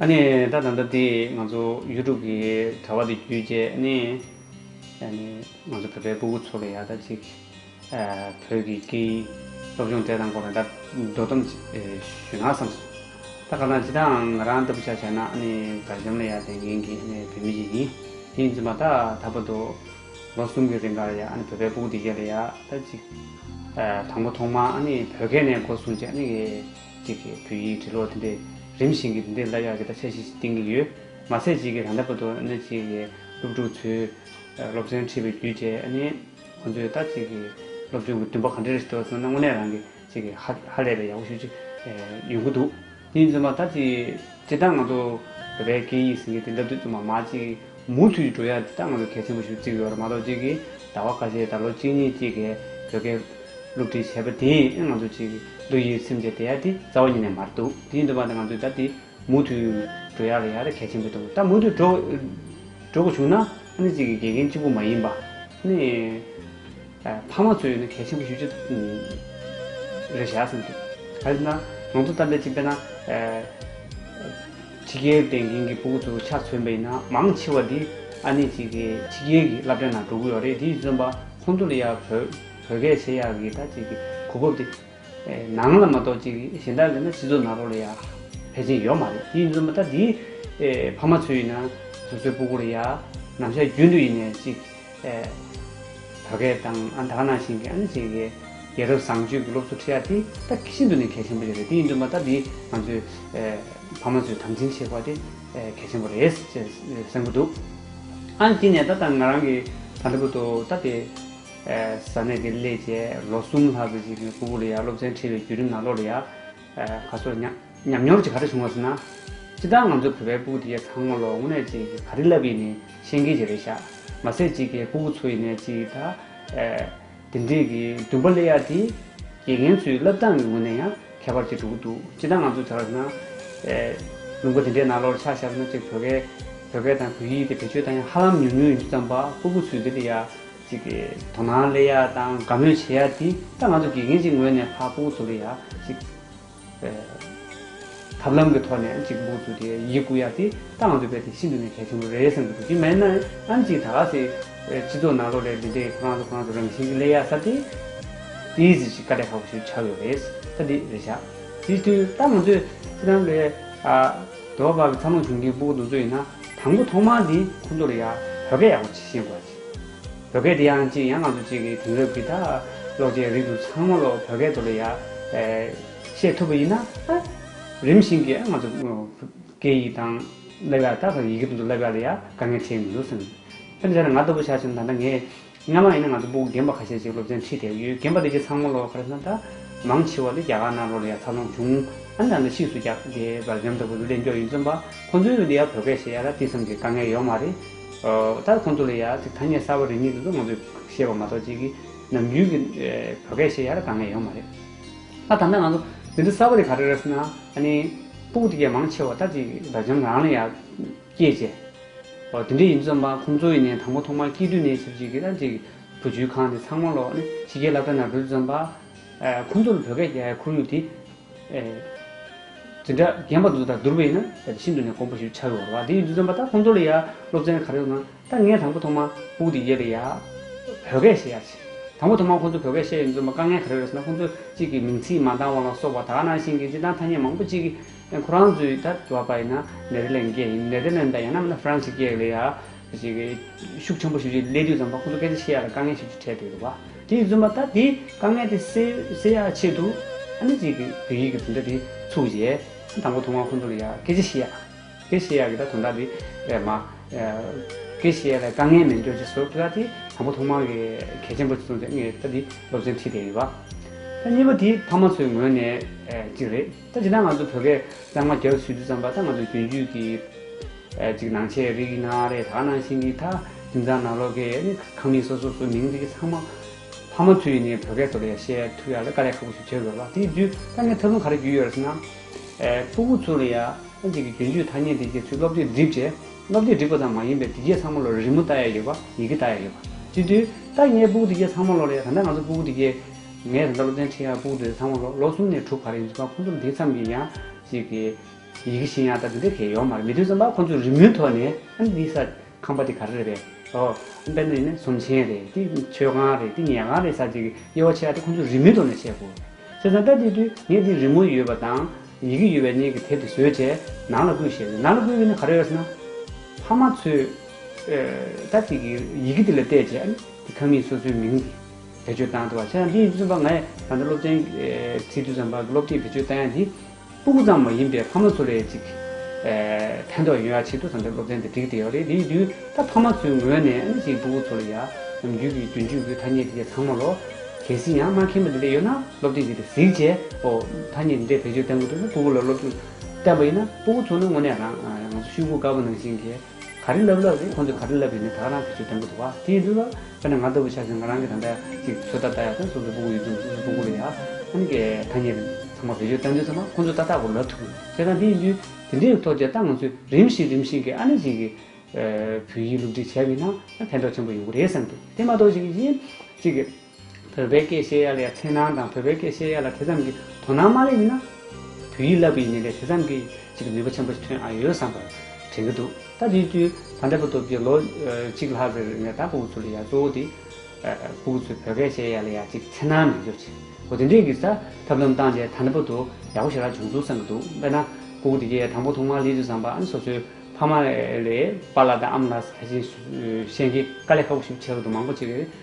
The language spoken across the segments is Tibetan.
ད་ད་ལྟ་དེས་ང་ཚོ་ཡུལ་གྲུ་གི་དྲ་བ་དེ་བརྒྱུད་རྗེས་ནི་ང་ཚོ་བོད་པའི་སྤུ་གུ་ཚོ་ལ་ཡང་ད་ཅིག་བོད་ཀྱི་སྐད་ཡིག་སློབ་སྦྱོང་དེ་དང་སྐོར་ནས་ད་དོ་དམ་ཞུས་ན་བསམ་སོང། ད་ག་ལ་ཇི་ལྟའང་ང་རང་ལྟ་བུ་ཆགས་བྱས་ན་ནི་དགའ་ཞོམ་ལ་ཡང་ལྡན་མཁན་གྱི་བོད་མི་ཞིག་ཡིན། དེ་ཡིན་ཚུལ་མ་ད་ད་བར་དུ་ལོ་གསུམ་གྱི་རིང་གར་ཡང་བོད་པའི་སྤུ་གུ་དེ་གཞན་ལ་ཡང་ད་ཅིག་དང་པོ་ཐོག་མ་བོད་སྐད་ནས་སྒོ་སྲུང་རྗེས་ནི། གཅིག་གིས་བོད་ཡིག་འབྲི་ཀློག་དེ་འདྲས་རིམ་བཞིན་གྱི་དེ་འདྲས་སླར་ཡག་གི་ད་ཆ་ཞིག་གཏིང་གི་ཡོད། མ་ཟད་གཅིག་གིས་ད་ལྟ་བར་དུ་ཨ་ནེ་གཅིག་གི་སློབ་ཕྲུག་ཚོས་སློབ་ཚན་ཁྲིད་པའི་རྒྱུ་བཅས་ཨ་ནེ་ཁོང་ཚོས་ད་གཅིག་གི་སློབ་སྦྱོང་གི་འདུན་པ་ག་འདྲས་རེ་ཞིག་སྟོར་སོང་ན་དངོས་གནས་རང་གིས་གཅིག་གིས་ཧཧ་ལས་པའི་ཡག་པོ་ཞུ་རྒྱུ་ཡོང་གི་འདུག་དེ་བཞིན་དུ་མ་ད་གཅིག་དེ་ལྟར་ང་ཚོ་བོད་པའི་སྐད་ཡིག་ཟེར་མཁན་དེ་འདྲ་དུས་ཚོད་མ་མ་གཅིག་མུ་མཐུད་ཀྱིས་འགྲོ་ཡ་དེ་དག་ང་ཚོ་གལ་ཆེན་པོ་ཞིག་ཏུ་བརྩི་དགོས་པ་རེད་མ་གཏོགས་གཅིག་གིས་ཟླ་བ་ཁ་ཤས་ཟླ་ལོ་གཅིག་གཉིས་གཅིག་གིས་བོད་སྐད་སློབ་ཁྲིད་བྱས་པ་དེ་ཡིས་ཨེ་ང་ཚོ་གཅིག་བསྡུ་ཡི་སེམས་བྱེད་བསྡད་ཡ་དེ་རྩ་བ་ཉིད་ནས་མར་འདུག་དེ་ཡིན་དུ་མ་དེ་ང་ཚོས་ད་དེ་མུ་མཐུད་འགྲོ་ཡ་ལ་ཡ་དེ་གལ་ཆེན་པོ་འདུག་ད་མུ་མཐུད་འགྲོ་འགྲོ་དགོས་བྱུང་ན་ཨ་ནི་གཅིག་གིས་དགེ་རྒན་གཅིག་པུ་མ་ཡིན་པ་ཨ་ནི། ཕ་མ་ཚོས་ཡིན་ན་གལ་ཆེན་པོ་ཞུ་རྒྱུ་རེད་བཞག་བསམ་གྱི་འདུག་ད་དེ་ན་ང་ཚོ་ལྟར་འདི་བྱས་པས་ན། ཕྱི་རྒྱལ་བསྟན་མཁན་གྱི་སྤོ་བོ་ཚོ་ཆ་མཚོན་པ་ཡིན་ན་མང་ཆེ་བ་འདི་ཨ་ནེ་གཅིག་གི་ཕྱི་རྒྱལ་གྱི་བླ་བྲེ་ན་འགྲོ་གི་ཡོད་རེད་དེ་བརྩོན་པ་ཁོང་ཚོ་ལ་ཡང་བོད་སྐད་བཤད་ཡག་གི་ད་ཅིག་གི་གོ་བབ་དེ། ནང་ལ་མ་གཏོགས་ཅིག་གཞན་དག་ལས་ན་སྤྱི་ཚོགས་ནང་རོ་ལ་ཡ་ཕལ་ཆེན་ཡོད་མ་རེད་དེ་ཡིན་ཚུལ་མ་ཐག་དེའི་ཕ་མ་ཚོས་ཡིན་ན་སོ་སོའི་སྤུ་གུ་ལ་ཡ་ནམ་ཞག་རྒྱུན་དུ་ཡིན་ནས་ཅིག་བོད་སྐད་དང་ཨ་མདའ་ནང་བཞིན་གྱི་ཨ་ནེ་ཆེ་གེ་རྒྱལ་རབས་བཟང་སྤྱོད་ཀྱི་སློབ་གསོ་ཁྲིད་ཡ་དེ་ད་གི་ཤིན་ཏུ་ནས་གལ་ཆེན་པོ་ཞིག་རེད་དེ་ཡིན་ཚུལ་མ་ཐག་དེ་ང་ཚོའི་ཕ་མ་ཚོས་དམ་འཛིན་བྱེད་དགོས་དེ་གལ་ཆེན་པོ་རེད་ཅེས་གསུང་གི་འདུག་ཨ་ནེ་དེ་ནས་ད་ད་ང་རང་གི་ད་ལྟ་བུ་ཏོ་ད་དེ་ས་གནས་དེར་སླེབས་རྗེས་ལོ་གསུམ་ལྷག་གི་རྗེས་ཀྱི་ཀོང་པོ་ལི་ཡར་སློབ་ཚན་ཁྲིད་པའི་བརྒྱུད་རིམ་ནང་ལོ་རེ་ཡར་ཁ་སོར་ཉམས་མྱོང་གཅིག་ག་འདྲ་བྱུང་བ་ཟེར་ན། སྤྱི་བདག་ང་ཚོ་བོད་པའི་སྤུག་དེ་ཡར་ཚང་མ་ལོ་སྔོན་ནས་ཅིག་ག་རེ་བསླབས་ཡིན་ནས་ཤེས་མཁན་གྱི་རེད་ཤག་མ་ཟད་ཅིག་གའི་སྤུག་གུ་ཚོ་ཡིན་ནས་ཅིག་ད། དེ་འདྲས་ཀྱི་བདུན་པ་སླེ་ཡར་དེ། དགེ་རྒན་ཚོའི་བསླབ་སྟངས་ཀྱི་ངོས་ནས་ཡང་ཁྱད་པར་ཅིག་གྲུབ་ཀྱི་འདུག་སྤྱི་བདག་ང་ཚོ་བྱ་བ་ཟེར་ན། ལུང་པ་དེ་འདྲའི་ནང་ལོ་རེ་ཆགས་ཤར་བ་ན་ཅིག་བོད་སྐད་བོད་སྐད་དང་བོད་ཡིག་དེ་བེད་སྤྱོད་སྟངས་ཡང་ཧ་ལམ་ཉུང་ཉུང་ཡིན་རྒྱུ་ཙམ་པ་སྤུག་གུ་ཚོས་དེ་འདྲ་ཡར་ཅིག་དོ་སྣང་སླེ་ཡ་དང་དགའ་མོས་བྱེད་ཡ་དེ་ད་ང་ཚོ་དགེ་རྒན་གཅིག་ངོས་ནས་ཕ་སྤོ་བཙུགས་ལེ་ཡ་ཅིག་ཐབས་ལམ་གི་ཐོག་ནས་ཅིག་སྤོ་བཙུགས་ཏེ་ཡིད་བཀུ་ཡ་དེ་ད་ང་ཚོ་དཔེ་དེ་ཤིན་ཏུ་ནས་གལ་ཆེན་པོ་རེད་བསམ་གྱི་འདུག་དེ་མེད་ན་ཨམ་ཅིག་ད་ག་ཟེ་སྤྱི་ཚོགས་ནང་ལོ་རེ་འདི་འདྲའི་ཁོ་རང་ཚོ་ཁོ་རང་ཚོ་རང་བཞིན་གྱི་སླེ་ཡ་ས་དེ་དེ་ཡི་ཟེ་ཅིག་དཀའ་ལས་ཁག་པོ་ཞིག་ཆགས་ཡོད་རེད་ད་དེ་རེད་ཤག་དེ་དུས་ད་ང་ཚོས་ཁྱེད་རང་ལོ་ཡ་དེ་བ་བ་གི་ཚ་མོ་བྱུང་གིས་སྤོ་བཙུགས་ཡིན་ན་དང་པོ་ཐོག་མར་དེ་ཁོ་ཚོ་ལོ་ཡ་བོད་སྐད་ཡག་པོ་བྱེད་ཤེས་དགོས་ཡ། བོད་སྐད་འདི་ཡང་གཅིག་ཡང་ང་ཚོ་གཅིག་གི་དེང་རབས་ཀྱི་ད་ཀློག་ཅན་རིགས་དུ་ཚང་མ་ཀློག་བོད་སྐད་དུ་ལ་ཡ་བཤད་ཐུབ་པ་ཡིན་ན་ད་རིམ་བཞིན་གྱི་ང་ཚོ་སྐད་ཡིག་དང་ཀླད་པའ་ད་ཡི་གེ་དོན་དུ་ཀླད་པའ་ལ་ཡ་དཀའ་ངལ་འཕྲད་མི་འདུག་སེམས། དཔེར་ན་བྱས་ན་ང་ལྟ་བུ་ཆགས་ཆེན་ད་ལྟ་ངས་སྔ་མ་ཡིན་ན་ང་ཚོ་སྤུག་རྒན་པ་ཁ་ཤས་ཅིག་སློབ་ཚན་ཁྲིད་དེ་ཡོད་རྒན་པ་འདི་གཅིག་ཚང་མ་ཀློག་ག་རེ་ན་ད་མང་ཆེ་བ་ལས་རྒྱ་གར་ནང་ལོ་ལ་ཡ་འཚར་ལོངས་བྱུང་ཨ་ནི་ད་ལྟ་ཕྱིས་སུ་རྒྱ་དེ་བར་འཇམ་ལྟ་བུ་རུ་ལས་མགྱོགས་ཡིན་བརྩོན་པ་ཁོང་ཚོའི་དེ་ཡ་བོད་སྐད་བཤད་ཡ་ལ་དེ་ཙམ་གྱི་དཀའ་ངལ་ཡོག་མ་རེད། ད་ཁོང་ཚོ་ལ་ཡང་ཐ་སྙད་གསར་བ་རེ་གཉིས་འདུག་ང་ཚོས་ཤེས་པ་མ་གཏོགས་ཅིག་གིས་ནམ་རྒྱུན་གྱི་བོད་སྐད་ཤེས་ཡག་རེ་ག་ངས་ཡོང་མ་རེད། ད་ད་ལྟ་ང་ཚོ་འདི་འདྲ་གསར་བ་རེ་ག་རེ་རེ་ཟེར་ན་ཨ་ནི་པུ་གུ་ཐི་ཀས་མང་ཆེ་བ་ད་ཅིག་དགྲ་བཅོམ་རང་ལ་ཡང་སྐྱེས་རྗེས། འོ་དེ་འདྲས་ཡིན་རྩོམ་པ་ཁོང་ཚོ་ཡིན་ནས་དང་པོ་ཐོག་མར་སྐྱིད་སྡུག་གནས་ཚུལ་ཅིག་གིས་ད་ཅིག་བུ་བཅོལ་ཁང་འདི་ཚང་མ་ལོག་ནས་ཕྱི་རྒྱལ་ལབ་གྲ་ན་འགྲོ་རྩོམ་པ། ཁོང་ཚོ་ལ་བོད་སྐད་ཁོར་ཡུག་འདི། འཛིན་གྲྭ་རྒན་པ་དང་བསྡུར་བས་ན་ད་ཤིན་ཏུ་ནས་དཀོན་པོ་ཞིག་ཆགས་ཡོད་རེད་བ། དེ་ཡིན་དུས་བརྩམས་པ་ད་ཁོང་ཚོ་ལ་ཡ་སློབ་ཚན་ག་རེ་ཡོད་ན་ད་ངས་དང་པོ་ཐོག་མར་བུག་དེ་ཡས་པས་ཡ། བོད་སྐད་བཤད་ཡ་བྱས། དང་པོ་ཐོག་མར་ཁོང་ཚོ་བོད་སྐད་བཤད་ཡོད་འདུག་བརྩམས་པ་དཀའ་ངལ་ག་རེ་རེད་ཟེར་ན་ཁོང་ཚོ་གཅིག་གིས་མིང་ཚིག་མ་འདང་བ་ལ་སོགས་པ་དག་ནང་བཞིན་གྱི་སྤྱི་དང་ཐ་སྙད་མང་པོ་གཅིག་གིས་ཁོ་རང་ཚོའི་ད་བར་པ་ཡིན་ན་ནེ་ལྡི་ལན་སྐད་ཡིན་ནེ་ལྡི་ལན་པ་ཡང་ན་མིན་ན་ཧྥི་རན་སི་སྐད་ལས་ཡ། ཞིག་གིས་ཤུགས་ཆེན་པོ་ཞུ་རྒྱུའི་སླད་དུས་ཙམ་པ་ཁོང་ཚོ་སྐད་ཆ་བཤད་ཡ་ལ་དཀའ་ངལ་ཞིག་ཆུ་འཕྲད་འདུག་བ། དེ་བརྫུན་པ་ད་དེ་དཀའ་ངལ་དེ་སེལ་ཡ་ཆེད་དུ་ཨ་ནི་ཅིག་གིས་བོད་ཡིག་གི་དོན་དག་དེ་ཚུགས་རྗེས་དང་པོ་ཐོན་ཁང་ཁོང་ཚོ་ལ་ཡ་སྐད་ཆ་བཤད་ཡ། སྐད་བཤད་ཡ་གི་ད་དོན་དག་དེ་མ། སྐད་བཤད་ཡ་ལ་དཀའ་ངལ་མེད་འགྱོ་ཅེས་སོགས་ཀྱི་ད་དེ་དང་པོ་ཐོན་ཁང་གི་གལ་ཆེན་པོ་ཅིག་ཙམ་ཞིག་ངས་ད་དེ་སློབ་ཚན་ཁྲིད་བསྡད་ཡོད་བ། ད་གཉིས་པ་དེ་ཕ་མ་ཚོའི་ངོས་ནས་ཅིག་རེད། ད་ཇི་ལྟར་ང་ཚོ་བོད་སྐད་གཙང་མ་རྒྱག་ཚུལ་དུ་བརྩམས་པ་ད་ང་ཚོ་རྒྱུན་སྤྱོད་ཀྱི་གཅིག་ནང་ཆེད་རིགས་ཡིན་ན་རེད་ད་ནང་བཞིན་གྱི་ད་དིང་ཙང་ནང་ལོག་གི་ནི་ཁང་མིག་སོ་སོ་སོ་མིང་རིགས་ཚང་མ་ཕ་མ་ཚུ་ཡིས་ནི་བོད་སྐད་ཐོག་ལ་ཡང་བཤད་ཐུབ་ཡག་ལ་དཀའ་ལས་ཁག་པོ་ཞིག་བྱེད་དགོས་ལ་དེ་བརྒྱུད་ད་ངས་ཐབས་ལམ་ག་རེ་བརྒྱུད་ཡོད་རེད་ཟེར་ན། སྤུ་བོ་ཚུ་ལ་ཡང་ཨ་ཅེ་གི་རྒྱུན་སྤྱོད་ཐ་སྙད་འདི་བརྒྱད་ཚུལ་སློབ་དེབ་སྒྲིག་རྗེས་སློབ་དེབ་སྒྲིག་པ་ཙམ་མ་ཡིན་པའི་འདི་བརྒྱད་ཚང་མ་ལོ་རེ་རི་མོ་བལྟ་ཡག་ཡོད་པ་ཡི་གེ་བལྟ་ཡག་ཡོད་པ་དེ་དུས་ད་ངས་སྤུ་བོ་འདི་བརྒྱད་ཚང་མ་ལོ་ལ་ཡང་ད་ལྟ་ང་ཚོ་སྤུ་བོ་འདི་བརྒྱད། ངས་ད་ལྟ་བློ་ལྡན་ཁྲི་ཡར་སྤུག་འདི་ཚང་མ་ལོ་གསུམ་ནས་དྲུག་བར་ཡིན་གཟིགས་པ་ཁོང་ཚོར་འདི་ཙམ་གྱིས་ཡང་གཅིག་གི་ཡི་གེ་ཤེས་ཡང་ད་དེ་འདྲའི་གལ་ཡོང་མ་རེད་མི་དོན་ཙམ་པ་ཁོང་ཚོས་རི་མོའི་ཐོག་ནས་ཨ་འདི་ས་ཁང་པ་འདི་ག་རེ་རེད་པས་ཨོ་དཔེར་ན་ཡིན་ན་ཟོམ་ཆེན་རེད་འདི་མཆོད་ཁང་རེད་འདི་ཉལ་ཁང་རེད་ས་ཅིག་གི་དབྱེ་བ་ཕྱེ་ཡག་དེ་ཁོང་ཚོས་རི་མོའི་ཐོག་ནས་ཕྱེ་དགོས། བྱས་ཙང་ད་དེ་དུས་ངས་འདི་རི་མོ་ཡོད་པ་དང་ཡི་གེ་ཡོད་པའི་གནས་ཀྱི་དེབ་དེ་བཟོས་རྗེས་ནང་ལ་བསྐུས་ཞེས་ཟེར་ནང་ལ་བསྐུས་ནས་ག་རེ་ཡོད་ཟེར་ན། ཕ་མ་ཚོས་ད་ཅིག་གི་ཡི་གེ་འདི་ལ་བལྟས་རྗེས་ཨ་ནི་འདི་ཁང་མིག་སོ་སོའི་མིང་འདི། བེད་སྤྱོད་བཏང་ཐུབ་པ་ཆགས་འདིའི་བཙུན་པ་ངས་ད་ལྟ་སློབ་ཚན་ཚིག་བཅུ་ཙམ་བར་གྱི་སློབ་ཁྲིད་བེད་སྤྱོད་བཏང་ཡ་འདི་སྤུ་གུ་ཙམ་མ་ཡིན་པའི་ཕ་མ་ཚོ་ལས་ཅིག་ཕན་ཐོགས་ཡོང་ཡ་ཆེད་དུ་ད་ལྟ་སློབ་ཚན་འདི་བསྒྲིགས་བསྡད་ཡོད་རེད་འདིའི་དུས་ད་ཕ་མ་ཚོའི་ངོས་ནས་ཨ་ནེ་ཅིག་སྤུ་གུ་ཚོ་ལ་ཡ་ནམ་རྒྱུད་ཀྱི་རྒྱུན་སྤྱོད་ཀྱི་ཐ་སྙད་དེ་འདྲས་ཚང་མ་ལོ་གལ་སྲིད་ཡང་སྨྲ་མཁན་པོ་དེ་འདྲས་ཡོད་ན་སློབ་ཁྲིད་འདི་འདྲས་གཟིགས་རྗེས་ཨོ་ཐ་སྙད་འདི་འདྲས་བེད་སྤྱོད་བཏང་གི་འདུག་ན་སྤུ་གུ་ལ་སློབ་སྦྱོང་བསྟན་པ་ཡིན་ན་སྤུ་གུ་ཚོ་ནི་དངོས་གནས་རང་ང་ཚོ་ཤུལ་སྒུག་དཀར་པོ་ནང་བཞིན་གྱི། ག་རེ་ལབ་ལབ་རེད་ཁོང་ཚོས་ག་རེ་ལབ་པའི་ནི་ད་རང་གི་ཚོད་དྲན་གི་འདུག་བ་དེ་ཡིན་དུས་ལ་དཔེར་ན་ང་ལྟ་བུ་ཆགས་ཚེ་ང་རང་གི་ད་ལྟ་ཅིག་ཚོད་ལྟ་ལྟ་ཡག་དང་སོ་སོ་སྤུ་གུ་ཡོད་དུས་སོ་སོ་སྤུ་གུ་ལ་ཡག་ཨ་ནི་ཀའི་ཐ་སྙད་རེད་ཚང་མ་བེད་སྤྱོད་ལྟ་འདོད་ཚང་མ་ཁོང་ཚོས་ཏག་ཏག་གོ་ལབ་ཐུབ་དགོས་ཁྱེད་རང་དེ་ཡིན་དུས་དེ་འདྲའི་ཐོག་བྱས་ཏ་ང་ཚོས་རིམ་བཞིན་རིམ་བཞིན་གྱི་ཨ་ནི་ཅིག་གི་བོད་ཡིག་སློབ་ཁྲིད་བྱས་པའི་ནང་ཕན་ཐོག་ཆེན་པོ་ཡོང་གི་རེད་བསམ་དུས་དེ་མ་གཏོགས་ཅིག་གཞན་ཅིག་བོད་པའི་སྐད་བཤད་ཡ་ལ་ཡང་འཚེར་སྣང་དང་བོད་པའི་སྐད་བཤད་ཡ་ལ་དེ་ཙམ་གྱི་དོ་སྣང་མ་ལས་ཡིན་ན། བོད་ཡིག་བསླབ་པའི་ཉེན་ལས་དེ་ཙམ་གྱི་ཅིག་ནུས་པ་ཆེན་པོ་ཞིག་ཐོན་ཨ་ཡོད་བསམ་པར་དྲན་གྱི་འདུག་ད་དེའི་དུས་ད་ལྟ་བུ་སྟོབས་རྒྱལ་ལོ་གཅིག་ལྷག་རེར་ནས་ད་སྤུ་གུ་ཚོ་ལ་ཡ་གཙོ་བོ་དེ། སྤུ་གུ་ཚོས་བོད་སྐད་བཤད་ཡ་ལ་ཡ་ཅིག་འཚེར་སྣང་མི་འགྱུར་ཅིག་གོ་དེ་འདྲས་ཀྱི་ས་ཐབས་ལམ་བཏང་སྟེ་ད་ལྟ་བུ་དུ་ཡག་པོ་ཞིག་རག་བྱུང་འདུག་བསམ་གྱི་འདུག་དཔེར་ན་སྤུ་གུ་དེ་གས་དང་པོ་ཐོག་མར་ལི་ཏུ་བཟང་པ་ཨ་ནི་སོ་སོའི་ཕ་མ་ལས་པཱ་ལ་དང་ཨ་མ་ལ་ས་ཆེན་བཤད་མཁན་དཀའ་ལས་ཁག་པོ་ཞིག་བྱས་ཡོད་འདུག་མང་པོ་ཅིག་གིས།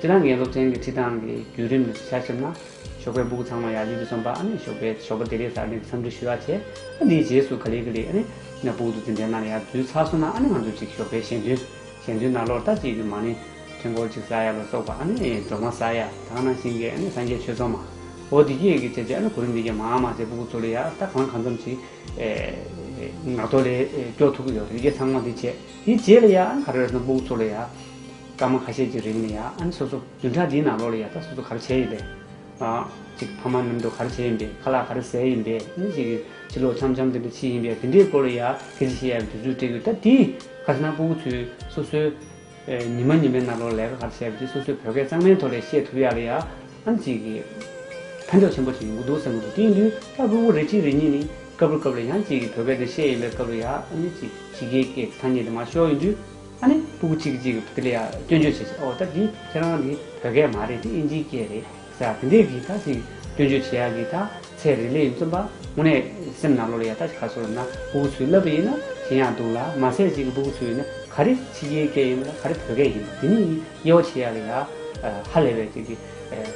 ཁྱེད་རང་གི་སློབ་ཚན་གྱི་ཁྲིད་སྟངས་ཀྱི་བརྒྱུད་རིམ་ལས་སུ་ཤར་ཕྱིར་ན། ཞོགས་པའི་སྦུག་ཚང་མ་ཡར་ཡིད་དུ་འཛོམས་པ་ཨ་ནི་ཞོགས་པའི་ཞོགས་པ་དེ་རེད་ཟེར་ནས་འཚམས་འདྲི་ཞུ་ཡག་བྱེད། ཨ་དེའི་རྗེས་སུ་ག་ལེ་གི་ལེ་ཨ་ནི། ན་སྦུག་ཏུ་འཛིན་གྲྭའི་ནང་ལ་ཡར་འཛུལ་ཚར་སོང་ན་ཨ་ནི་ང་ཚོ་ཅིག་ཞོགས་པའི་གཞན་དོན། གཞན་དོན་ན་ལོར་ལྟ་ཅིག་གི་མ་ནི། འཕྲེང་སྐོར་ཅིག་ཟ་ཡ་ལ་སོགས་པ་ཨ་ནི། སྒྲོལ་མ་ཟ་ཡ་དག་ན་ཤིང་སྐས་ཨ་ནི་སངས་རྒྱས་ཆོས་ཚོགས་མ། འོ་དེ་སྐད་ཀྱི་བྱས་བྱས་ཨ་ནི་གོ་རིམ་འདི་སྐད་མང་མང་བྱས་སྦུག་སྦུག་ཚོ་ལས་ཡར་ལྟ་གང་གང་ཙམ་ཞིག། ངག་ཐོག་ལས་སྐྱོ་ཐུབ་ཀྱི་ཡོད་རེད་ཀྱེ་ཚང་མ་འདི་བྱས་དེ་བྱས་ལ་ཡར་ཨ་ནི་ག་རེ་རེད་སོང་སྦུག་སྦུག་ཚོ་ལས་ཡར། སྐར་མ་ཁ་ཤས་ཀྱི་རིང་ལ་ཡང་ཨ་ནེ་སོ་སོ་བདུན་ཕྲག་འདིའི་ནང་ལོགས་ལ་ཡང་ད་སོ་སོ་ག་རེ་བྱས་ཡིན་པས། ཅིག་ཕ་མ་ནུབ་འདུག་ག་རེ་བྱས་ཡིན་པས་ཁ་ལག་ག་རེ་ཟས་ཡིན་པས་ནི་ཅིག་ཕྱི་ལོག་འཆམ་འཆམ་དེ་འདྲ་ཕྱིན་ཡིན་པས་དེ་འདྲའི་སྐོར་ལ་ཡང་ཁེ་ཆེ་ཤེས་ཡ་བའི་དུས་ཚོད་སྤྲད་དགོས་ད་དེ་ཁ་ཤ་ནག་པོ་བོ་ཚོས་སོ་སོའི་ཉི་མ་ཉི་མའི་ནང་ལོགས་ལ་ལས་ཀ་ག་རེ་བྱས་པ་དེ་སོ་སོའི་བོད་སྐད་གཙང་མའི་ཐོག་ལས་བཤད་ཐུབ་ཡ་ལ་ཡང་ཨ་ནེ་ཅིག་ཕན་ཐོགས་ཆེན་པོ་ཞིག་ཡོང་གི་འདུག་ཟེར་གི་འདུག་དེ་ཡིན་དུས་སྐར་དགུ་དགུ་རེ་གཅིག་རེ་གཉིས་ནི་སྐབས་རེ་སྐབས་ལ་ཡང་ཅིག་བོད་སྐད་དེ་བཤད་ཡིན་པའི་སྐབས་ལ་ཡང་ཨ་ནེ་ཅིག་ཕྱི་རྒྱལ་སྐད་ཐ་སྙད་དེ་མ་ཤོར་ཡིན་དུས། ཨ་ནི་སྤུ་གུ་གཅིག་གཅིག་དེ་ལ་ཡང་སྐྱོན་བརྗོད་བྱེད་བྱེད་ཨོ་ད་འདི་ཁྱེད་རང་འདི་བོད་སྐད་མ་རེད་འདི་ཨིན་ཇིའི་སྐད་རེད་ཟེར་དེ་འདྲས་ཀྱིས་ད་ཅིག་སྐྱོན་བརྗོད་བྱེད་ཡག་གི་ད་ཚེ་རིང་ལས་ཡིན་རྩོམ་པ་དངོས་གནས་སེམས་ནག་ལོ་རེད་ཡ་ད་ཅིག་ཁ་སོ་རུ་ན་སྤུ་གུ་ཚུལ་བསླབ་པ་ཡིན་ན་གཞན་ཡང་འདུག་ལ་མ་ཟད་ཅིག་སྤུ་གུ་ཚུལ་ཡིན་ན་ག་རེ་ཕྱི་རྒྱལ་སྐད་ཡིན་པ་ལ་ག་རེ་བོད་སྐད་ཡིན་པ་དེ་གཉིས་དབྱེ་བ་ཕྱེ་ཡག་གི་ད་ཧ་ལས་པའི་ཅིག་གི་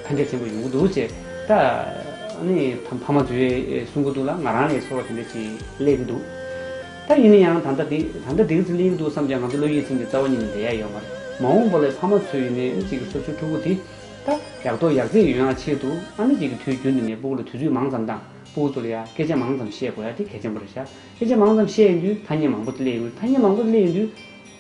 ཕན་འབྲས་ཆེན་པོ་ཡོང་གི་འདུག་ཅེས་ད་ཨ་ནི་ཕ་མ་ཚོའི་གསུང་གི་འདུག་ལ་ང་རང་ལས་སོགས་དེ་འདྲས་ཅིག་གླེགས་འདུག། ད་ཡིན་ན་ཡང་ད་ལྟ་འདི་ད་ལྟ་འདི་གི་ཚུལ་ཡིན་འདུག་བསམ་ཀྱང་ང་ཚོ་བློ་ཡིད་ཚིམ་སྟེ་རྩ་བ་ཉིད་ནས་བསྡད་ཡ་ཡོད་མ་རེད། མ་འོངས་པ་ལས་ཕ་མ་ཚོས་ཡུན་ནན་གཅིག་གི་སོ་སོའི་ཕྲུ་གུ་དེ་ད་ཡག་རྡོག་ཡག་རྩེད་ཡོང་ཡ་ཆེད་དུ་ཨ་མེ་གཅིག་གི་དུས་རྒྱུན་དུ་ནས་སྤུ་གུ་ལ་དུས་ཚོད་མང་ཙམ་དང་སྤུ་གུ་ཚོ་ལ་ཡ་སྐད་ཆ་མང་ཙམ་བཤད་དགོས་ཡ་དེ་གལ་ཆེན་པོ་རེད་ཤག་སྐད་ཆ་མང་ཙམ་བཤད་ཡིན་དུས་ཐ་སྙད་མང་པོ་དེ་གླེང་ཡིན་དུས་ཐ་སྙད་མང་པོ་དེ་གླེང་ཡིན་དུས་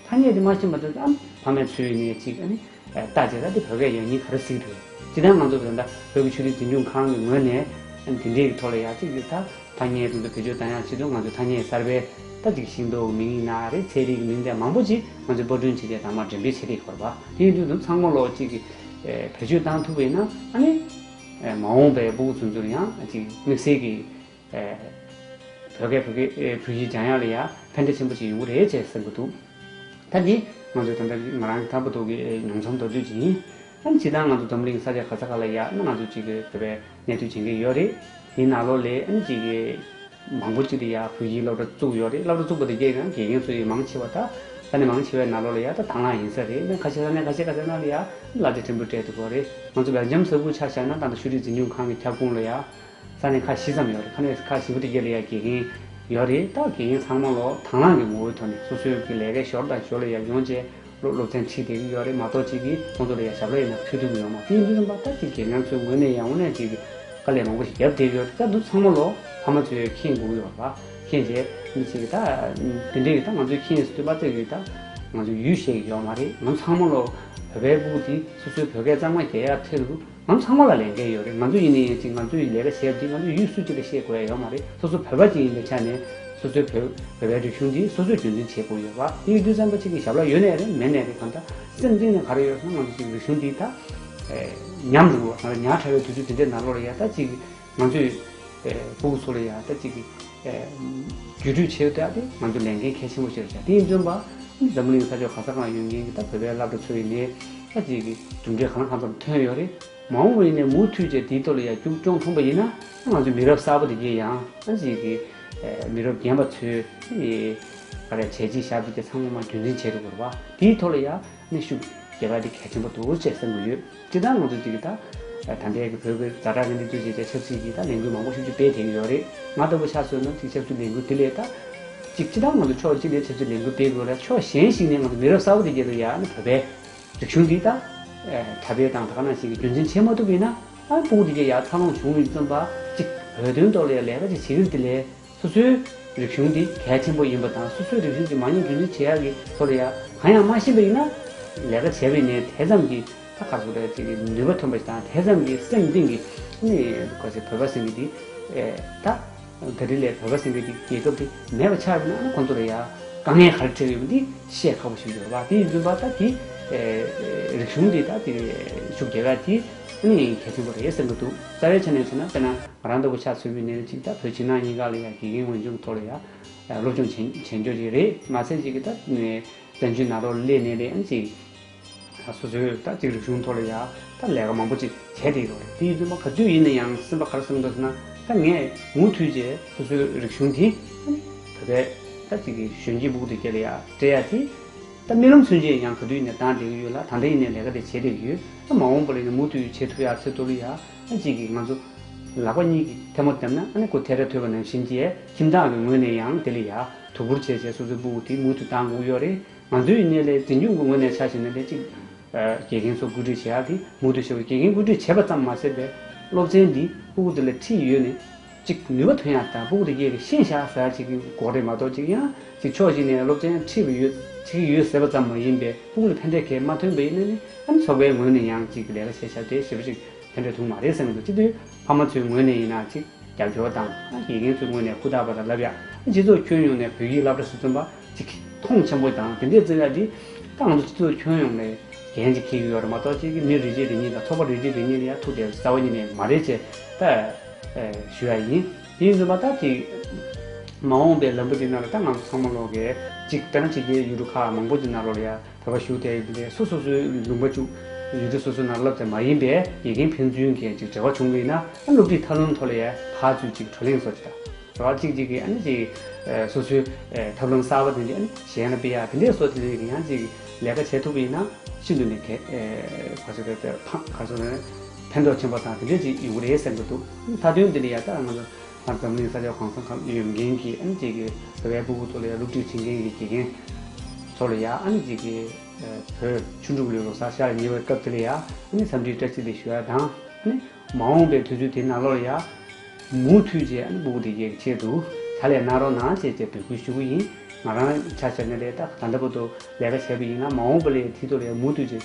ཐ་སྙད་དེ་མ་ཤེས་པ་དེ་ཨ་མེ་ཕ་མས་ཚོས་ཡུན་ནན་གཅིག་ཨ་མེ། བརྟག་བྱས་ན་དེ་བོད་སྐད་ཡག་ཉིད་ག་རེ་གཟིགས་རེད། ཅི་སྟེ་ང་ཚོ་བོད་ཟླ་བོད་ཀྱི་ཆོས་རིག་འཛིན་སྐྱོང་ཁང་གི་ངོས་ནས་དེ་འདྲའི་ཐོག་ལ་ཡག་ཅིག་ཡོད་ཐ་ཐ་ངའི་དྲུང་དུ་བེད་སྤྱོད་དང་ཡང་ཕྱི་དྲོ་ང་ཚོའི་ཐ་སྙད་གསར་པའི་ད་ཅིག་ཤིང་ཏོག་མིང་ཡིག་ན་རེ་ཚད་རིག་གི་མིང་ཚད་མང་པོ་ཅིག་ང་ཚོའི་པར་སྐྲུན་བྱེད་སྟེགས་དང་མར་འགྲེམས་སྤེལ་བྱེད་སྟེགས་ཁོར་བ་དེ་ཡིན་དུས་དུམ་ཚང་མ་ལོག་ཅིག་གིས་བེད་སྤྱོད་བཏང་ཐུབ་བས་ན་ཨ་ནི། མ་འོངས་པའི་སྤོ་བོ་ཚོ་ཚོར་ཡང་ཅིག་དམིགས་བསལ་གྱི། བོད་སྐད་བོད་སྐད་བོད་ཡིག་སྦྱང་ཡག་ལ་ཡག་ཕན་འབྲས་ཆེན་པོ་ཞིག་ཡོང་གི་རེད་ཅེས་གསུང་གི་འདུག་ཐེངས་འདིའི་ང་ཚོའི་དམ་བཅའ་ནི་ང་རང་གི་ཐར་བུ་དོག་གི་མྱོང་ཚོམ་མདོར་བསྡུས་ཅིག་ཡིན། ཨ་ནི་བྱེད་སྟངས་ང་ཚོ་འཛོམས་གླིང་ས་ཆ་ག་ས་ག་ལ་ཡག་ན་ང་ཚོ་གཅིག་གི་བོད་པའི་གནས་ཚུལ་བྱེད་མཁན་ཡོད་རེད། དེའི་ནང་ལོ་ལེགས་ཨ་ནི་གཅིག་གི་མང་པོ་གཅིག་ཏུ་ཡག་བོད་ཡིག་སློབ་གྲྭ་བཙུགས་ཡོད་རེད་སློབ་གྲྭ་བཙུགས་པ་དེ་རྒྱས་ཀྱང་རྒྱས་མཁན་སུ་ཡིན་མང་ཆེ་བ་ད་ས་གནས་མང་ཆེ་བའི་ནང་ལོ་ལ་ཡག་ད་དྭང་བླངས་ཡིན་ས་རེད་ན་ཁ་ཤས་ས་གནས་ཁ་ཤས་ག་ས་ན་ལ་ཡག་གླ་རྩི་ཕྲན་བུ་སྤྲད་འདུག་གོ་རེད་ང་ཚོ་བེལ་ཇམ་ས་ཁུལ་ཆ་བཞག་ན་ད་ལྟ་ཤུ་རིག་འཛིན་སྐྱོང་ཁང་གི་ཁྱབ་ཁོངས་ལ་ཡག་ས་གནས་ཁག་བཞི་ཙམ་ཡོད་རེད་ཁ་ནས་ཁ་བཞི་བོ་དེ་བརྒྱད་ལས་ཡ་དགེ་རྒན་ཡོད་རེད་ད་དགེ་རྒན་ཚང་མ་ལོ་དང་བླངས་ཀྱི་ངོ་བོའི་ཐོག་ནས་སོ་སོའི་གི་ལས་ཀའི་ཞོར་དང་ཞོར་ལ་ཡར་ཡོང་བྱེད་ལོ་སློབ་ཚན་ཁྲིད་བསྡད་ཀྱི་ཡོད་རེད་མ་གཏོགས་གཅིག་གིས་ཁོང་ཚོ་ལ་ཡར་ཞབས་ལ་ཡིན་ན་ཕུལ་ཐུབ་ཀྱི་ཡོད་མ་དེ་མི་རུང་པ་ད་གི་དགེ་རྒན་ཚོའི་ངོས་ནས་ཡང་འོ་ན་གཅིག་གིས་དཀའ་ལས་མང་པོ་ཞིག་རྒྱབ་བསྡད་ཀྱི་ཡོད་རེད་ད་འདུག་ཚང་མ་ལོ་ཕ་མ་ཚོས་མཁྱེན་དགོས་ཀྱི་ཡོད་རེད་མཁྱེན་བྱས་མི་བྱེད་ཀྱི་ད་དེ་འདྲས་ཀྱི་ད་ང་ཚོས་མཁྱེན་སྟོན་པ་བཙལ་གྱི་ད་ང་ཚོས་ཡུལ་ཤེས་ཀྱི་ཡོད་མ་རེད་ང་ཚང་མ་ལོ་བོད་པའི་པུ་གུ་དེ་སོ་སོའི་བོད་སྐད་གཙང་མ་རྒྱལ་ཡར་ཐེ་རུ་ང་ཚང་མ་ལ་ལས་འགན་ཡོད་རེད་ང་ཚོ་ཡིན་ནི་ཡིན་གཅིག་ང་ཚོའི་ལས་ཀ་བྱས་རྗེས་ང་ཚོ་ཡུལ་སྲོལ་གཅིག་ལ་ཤེས་དགོས་ཡ་ཡོད་མ་རེད་སོ་སོ་བོད་པ་གཅིག་ཡིན་པའི་ཆ་ནས་སོ་སོའི་བོད་བོད་པའི་རིག་གཞུང་འདི་སོ་སོས་རྒྱུན་འཛིན་བྱེད་དགོས་ཡོད་བ་སྙིང་རྡུལ་ཙམ་པ་གཅིག་གི་ཞབས་ལ་ཡོད་ནས་རེད་མེད་ནས་རེད་གང་ལྟར་སེམས་གཏིང་ནས་ག་རེ་ཡོད་ས་ང་ཚོ་གཅིག་རིག་གཞུང་འདི་ད་ཉམས་འགྲོ་གི་བ་ང་རང་ཉག་ཕྲ་བའི་དུས་ཚོད་འདི་འདྲའི་ནང་ལོག་ལ་ཡ་ད་གཅིག་ང་ཚོས་ཕུ་བོ་ཚོ་ལ་ཡང་ད་ཅིག་གི་བརྒྱུད་སྤྲོད་བྱེད་ཐུབ་སྟེ་ང་ཚོ་ལས་འགན་གལ་ཆེན་པོ་ཆེ་རུ་བྱ་དེ་ཡིན་བརྩོན་པ་འཛམ་བུ་གླིང་ས་ཕྱོགས་གང་ས་གང་ཡོད་མཁན་གྱི་ད་བོད་པའི་བླ་བྲོ་ཚོ་ཡིན་ནའི་ད་ཅིག་གི་གྲུབ་འབྲས་གང་ལ་གང་འཚམ་ཐོན་ཡོད་རེད་མ་འོངས་པ་ཡིན་ནའི་མུ་མཐུད་བཅས་དེའི་ཐོག་ལ་ཡང་རྒྱུགས་སྐྱོང་ཐོངས་པ་ཡིན་ན་ད་ང་ཚོའི་མི་རབས་གསར་པ་དེ་གའི་ཡང་ད་ཅིག་གི་མི་རབས་རྒན་པ་ཚོའི་ཨ་རེ་བྱས་རྗེས་ཞབས་འདེགས་ཀྱི་ཚང་མ་རྒྱུན་འཛིན་བྱེད་དུ་འོར་བ་དེའི་ཐོག་ལ་ཡང་ནས་ཤུགས་རྒྱབ་པ་དེ་གལ་ཆེན་པོ་འདུག་ཅེས་གསུང་གི་ཡོད། དེ་ལྟར་ང་ཚོ་ཅིག་གིས་ད་ལྟའི་བོད་ཀྱི་བཟའ་བྲག་གི་གནས་ཚུལ་བྱས་ཏེ་ཆབ་སྲིད་ཀྱི་ལས་འགུལ་མང་པོ་ཞིག་ཅིག་སྤེལ་ཐེངས་ཀྱི་ཡོད་རེད། ང་ལྟ་བུ་ཆབ་སྲིད་ནང་ཅིག་ཆབ་སྲིད་ལས་འགུལ་དེ་ལས་ད་ཅིག་ཅི་ལྟར་ང་ཚོ་ཕྱོགས་གཅིག་ནས་ཆབ་སྲིད་ལས་འགུལ་སྤེལ་དགོས་ལ་ཕྱོགས་གཞན་ཞིག་ནས་ང་ཚོ་མི་རབས་གསར་བ་དེ་རྒྱལ་དུ་ཡར་ནི་བོད་པའི་རིག་གཞུང་འདི་ད་གྲྭ་པའི་དང་ད་ག་ན་ཞིག་གི་རྒྱུན་འཛིན་བྱེད་མ་ཐུབ་པས་ན་ཨ་དཔུང་དེ་རྒྱལ་ཡར་འཚར་ལོངས་བྱུང་མིན་ཙམ་པ་ཅིག་བོད་དོན་ཐོག་ལ་ཡང་ལས་ཀ་ཅིག་བྱེད་ཀྱི་འདི་ལས། སོ་སོའི་རིག་གཞུང་དེ་གལ་ཆེན་པོ་ཡིན་པ་དང་སོ་སོའི་རིག་གཞུང་གི་མ་ཉེས་འགན་འཛིན་བྱེད་ཡག་གི་ཐོག་ལ་ཡང་གང་ཡང་སྨྲ་ཤེས་པ་ཡིན་ན། ལས་ཀ་བྱས་པའི་ནས་དེ་ཙམ་གྱི་ད་ག་ཟུག་རེད་ཅེས་ཀྱི་ནུས་པ་ཐོན་པ་ཞིག་དང་དེ་ཙམ་གྱི་སེམས་གཏིང་གི་ནི་ག་ཟེ་བོད་པ་སེང་གེ་དེ་ད་ག་དེ་ལས་བོད་པ་སེང་གེ་དེ་རྒྱལ་ཁབ་དེ་མེད་པ་ཆགས་པ་ན་ཨ་ཁོང་ཚོ་ལ་ཡང་དཀའ་ངལ་ག་རེ་འཕྲད་ཀྱི་ཡོད་པ་འདི་བཤད་ཁག་པོ་ཞིག་ཡོད་རེད་བ་དེ་ཡིན་ཚུན་པ་ད་དེ་རིག་གཞུང་དེ་ད་དེ་ཕྱུག་རྒྱལ་ཁབ་དེ། ཨང་ཡིན་གལ་ཆེན་པོ་རེད་ཟེར་གི་འདུག་རྩ་བའི་ཆ་ནས་བྱས་ན་དཔེར་ན་ང་རང་ལྟ་བུ་ཆ་ཚུད་པའི་ནད་རིགས་གཅིག་ད་བོད་ཕྱི་ནང་གཉིས་ཀ་ལ་ཡང་དགེ་རྒན་ངོས་འཇུག་ཐོག་ལ་ཡང་སློབ་སྦྱོང་བྱེད་བྱེད་འཇོག་བྱེད་རེད་མ་ཚད་གཅིག་གི་ད་བཙན་བྱོལ་ནང་རོ་ལས་ནད་རིགས་ཨང་གཅིག་ད་སོ་སོའི་ད་གཅིག་རིག་གཞུང་ཐོག་ལ་ཡང་ད་ལས་ཀ་མང་པོ་གཅིག་བྱས་ཏེ་ཡོད་རེད་དེའི་དུས་མ་ག་དུས་ཡིན་ན་ཡང་སེམས་པ་ག་རེ་སེམས་འདུག་ཟེར་ན་ད་ངས་མུ་མཐུད་ཅེས་སོ་སོའི་རིག་གཞུང་དེ་བོད་པའི་ད་གཅིག་གི་གཞོན་སྐྱེས་སྦུག་ཏུ་བསྐྱལ་ཡ་བསྐྲད་ཡ་དེ། ད་རྨི་ལམ་ཚུན་ཆད་ཡང་ག་དུས་ནས་བདག་འདྲེ་གི་ཡོད་ལ་ད་འདྲེ་ཡིན་ནའི་ལས་ཀ་དེ་བྱེད་བསྡད་ཡོད་ཨ་མ་འོངས་པ་ལ་ཡིན་ན་མུ་མཐུད་བྱེད་ཐུབ་ཡ་ཚེ་ཏོ་ལི་ཡ་གཅིག་གིས་ང་ཚོ་ལག་པ་གཉིས་ཀྱིས་ཐལ་མོ་བརྡབས་ན་ཨ་ནི་ཁོ་ཐལ་ར་ཐོད་པ་ནང་བཞིན་གྱི་ཁྱིམ་བདག་གི་ངོས་ནས་ཡང་དེ་ལི་ཡ་དོ་ཁུར་བྱས་བྱས་སོ་སོའི་སྤུ་བོ་དེ་མུ་མཐུད་འདང་དགོས་ཀྱི་ཡོད་རེད་ང་ཚོའི་གནས་ལས་འཛིན་སྐྱོང་གི་ངོས་ནས་ཆ་ཞེ་ན་ལས་གཅིག་དགེ་རྒན་ཚོ་བཀོད་སྒྲིག་བྱེད་ཡག་དེ་མུ་མཐུད་བྱེད་དགོས་དགེ་རྒན་བཀོད་སྒྲིག་བྱས་པ་ཙམ་མ་ཟད་པའི་སློབ་ཚན་འདི་སྤུ་བོ་དེ་ལ་འཁྲིད་ཡོད་ནི། གཅིག་ནུས་པ་ཐོན་ཡག་དང་དཔུང་སྡེ་བརྒྱད་ཀྱི་ཤེས་བྱ་ཟེར་བ་གཅིག་གི་འགོ་རེད་མ་གཏོགས་གཅིག་ཡང་གཅིག་ཕྱོགས་གཅིག་ནས་སློབ་ཚན་ཁྲིད་པ་ཡོད་བྱེད་ཀྱི་ཡོད་ཟེར་བ་ཙམ་མ་ཡིན་པའི་དཔུང་སྡེ་ཕན་འབྲས་གལ་མ་ཐོན་པའི་གནད་ནི་ཨ་མི་ཚོགས་པའི་ངོས་ནས་ཡང་གཅིག་ལས་ཀ་བྱེད་ཤ་བཀྲེས་ཞེས་པ་གཅིག་ཕན་འབྲས་ཐུང་མ་རེད་ཟེར་མི་འདུག་སྤྱི་འཐུས་ཕ་མ་ཚོའི་ངོས་ནས་ཡིན་ན་གཅིག་རྒྱབ་སྐྱོར་དང་དགེ་རྒན་ཚོའི་ངོས་ནས་ཧུར་ཐག་པ་དང་ལབ་ཡག་ཨ་སྤྱི་ཚོགས་ཁྱོན་ཡོངས་ནས་བོད་ཡིག་བསླབ་གྲྭ་སུ་བཙུན་པ་གཅིག་གིས་མཐོང་ཆེན་པོ་དང་དེ་འདྲའི་བརྩི་བཀག་འདི་ཏང་ཙུའུ་སྤྱི་ཚོགས་ཁྱོན་ཡོངས་ནས་གན་གཅིག་འཁེལ་གྱི་ཡོད་རེད་མ་གཏོགས་གཅིག་གི་མི་རིགས་གཅིག་རིག་གཉིས་དང་ཚོགས་པ་རིགས་གཅིག་རིག་གཉིས་ལ་ཡ་ཐུག་བསྡད་རྩ་བ་ཉིད་ནས་མ་རེད་ཅེས་ད། ཞུ་ཡ་ཡིན། དེ་ཡིན་ཟེར་བ་ད་ཅིག། མ་འོངས་པའི་ལམ་བུ་འདི་ན་རུ་ད་ང་ཚོ་ཚང་མ་ལོག་གི། ཅིག་ཏང་ཕྱི་རྒྱལ་ཡུལ་གྲུ་ཁག་མང་པོ་འདི་ན་རུ་ལ་ཡར་བོད་པ་ཞུགས་ཐེ་ཡིན་པས་སོ་སོ་སོའི་ལུང་པ་བཅུག། ཡུལ་གྲུ་སོ་སོའི་ནང་སློབ་དེ་མ་ཡིན་པའི་དགེ་རྒན་ཕན་ཚུན་གྱི་ཅིག་འབྲེལ་བ་བྱུང་གི་ཡིན་ན་སློབ་ཁྲིད་ཐབས་ལམ་ཐོག་ལ་ཡར་ཕར་ཚུར་ཅིག་བགྲོ་གླེང་སོགས་ཅིག་ད། རོ་ཅིག་ཅིག་གིས་ཨ་ནི་ཅིག། སོ་སོའི། ཐབས་ལམ་གསར་པ་དེ་ཅིག་ཨ་ནི་གཞན་ལ་སྤེལ་ཡ་དེ་འདྲས་སོགས་དེ་རིང་གི་ཡང་ཅིག་ལས་ཀ་བྱེད་ཐུབ་ཀྱི་ཡིན་ན་ཤིན་ཏུ་ནས་གལ། ག་ཚོད་རེད་ད་ཕངས་ག་ཚོད་རེད། ཕན་ཐོགས་ཆེན་པོ་དང་དེ་འབྲེལ་གྱི་ཡིག་རེ་གསན་གྱི་འདུག་མཐའ་དོན་དེ་ནི་ཡང་བསྐྱར་ང་ཚོ་འཛམ་གླིང་ས་ཆ་གང་ས་གང་ཡོད་མཁན་གྱི་ཨ་ནི་གཅིག་གི་བོད་པའི་བུ་ཕྲུག་ལ་ཡང་སློབ་ཁྲིད་བྱེད་མཁན་གྱི་དགེ་རྒན་ཚོ་ལ་ཡང་ཨ་ནི་གཅིག་གི་བོད་ཆུ་འབྲུག་ལོའི་ལོ་སར་ཤར་ཉེ་བའི་སྐབས་དེ་ལ་ཡང་ཨ་ནི་འཚམས་འདྲིའི་བཀྲ་ཤིས་བདེ་ཞུ་བ་དང་ཨ་ནི་མ་འོངས་པའི་དུས་ཚོད་དེ་ནང་ལོགས་ལ་ཡང་མུ་མཐུད་ཅེས་ཨ་ནི་བུ་ཕྲུག་དེ་གའི་ཆེད་དུ་ཕྱག་ལས་གནང་རོགས་གནང་བྱེད་ཅེས་འབོད་སྐུལ་ཞུ་གི་ཡིན་ང་རང་ཆ་ཤར་ནས་ལས་ད་ལྟ་བུ་ཐུག་ལས་ཀ་བྱས་པ་ཡིན་ན་མ་འོངས་པ་ལས་མཐིལ་རྡོ་ལ་ཡང་མུ་མཐུད་ཅེས།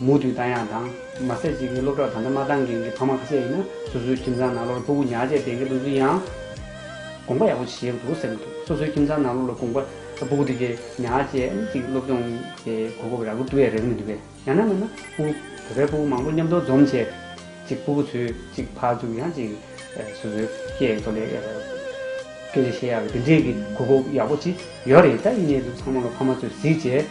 མུ་མཐུད་བསྟན་ཡག་དང། མ་ཟད་གཅིག་གིས་སློབ་གྲྭར་ད་ལྟ་མ་འདང་མཁན་གྱི་ཕ་མ་ཁ་ཤས་ཡིན་ན་སོ་སོའི་ཁྱིམ་ཚང་ནང་སློབ་ར་ཕུ་གུ་ཉག་ཅེས་འདེད་མཁན་ཕུན་ཚུན་ཡང། དགོངས་པ་ཡག་པོ་བྱེད་འདུག་ཟེར་མི་ཐུབ་སོ་སོའི་ཁྱིམ་ཚང་ནང་སློབ་ར་དགོངས་པ་ཕུ་གུ་འདི་གས་ཉག་ཅེས་ཨ་ནེ་གཅིག་སློབ་སྦྱོང་གི་གོ་སྐབས་རག་གི་འདུག་བས་རེག་མི་འདུག་བས་ཡང་ན་མེད་ན་ཕུ་གུ་བོད་པའི་ཕུ་གུ་མང་པོ་མཉམ་འདུ་འཛོམས་བྱས་ཏེ། གཅིག་ཕུ་གུ་ཚོས་གཅིག་ཕར་ཚུར་ཡང་གཅིག་སོ་སོའི་སྐད་ཡིག་ཐོག་ལས་སྐད་ཆ་བཤད་ཡག་གི་འདི་འདྲའི་གི་གོ་སྐབས་ཡག་པོ་ཅིག་ཡོད་རེད་ད་ཡིན་ནའི་འདུག་ཚང་མ་ལོ་ཕ་མ་ཚོས་གཟིགས་བྱས།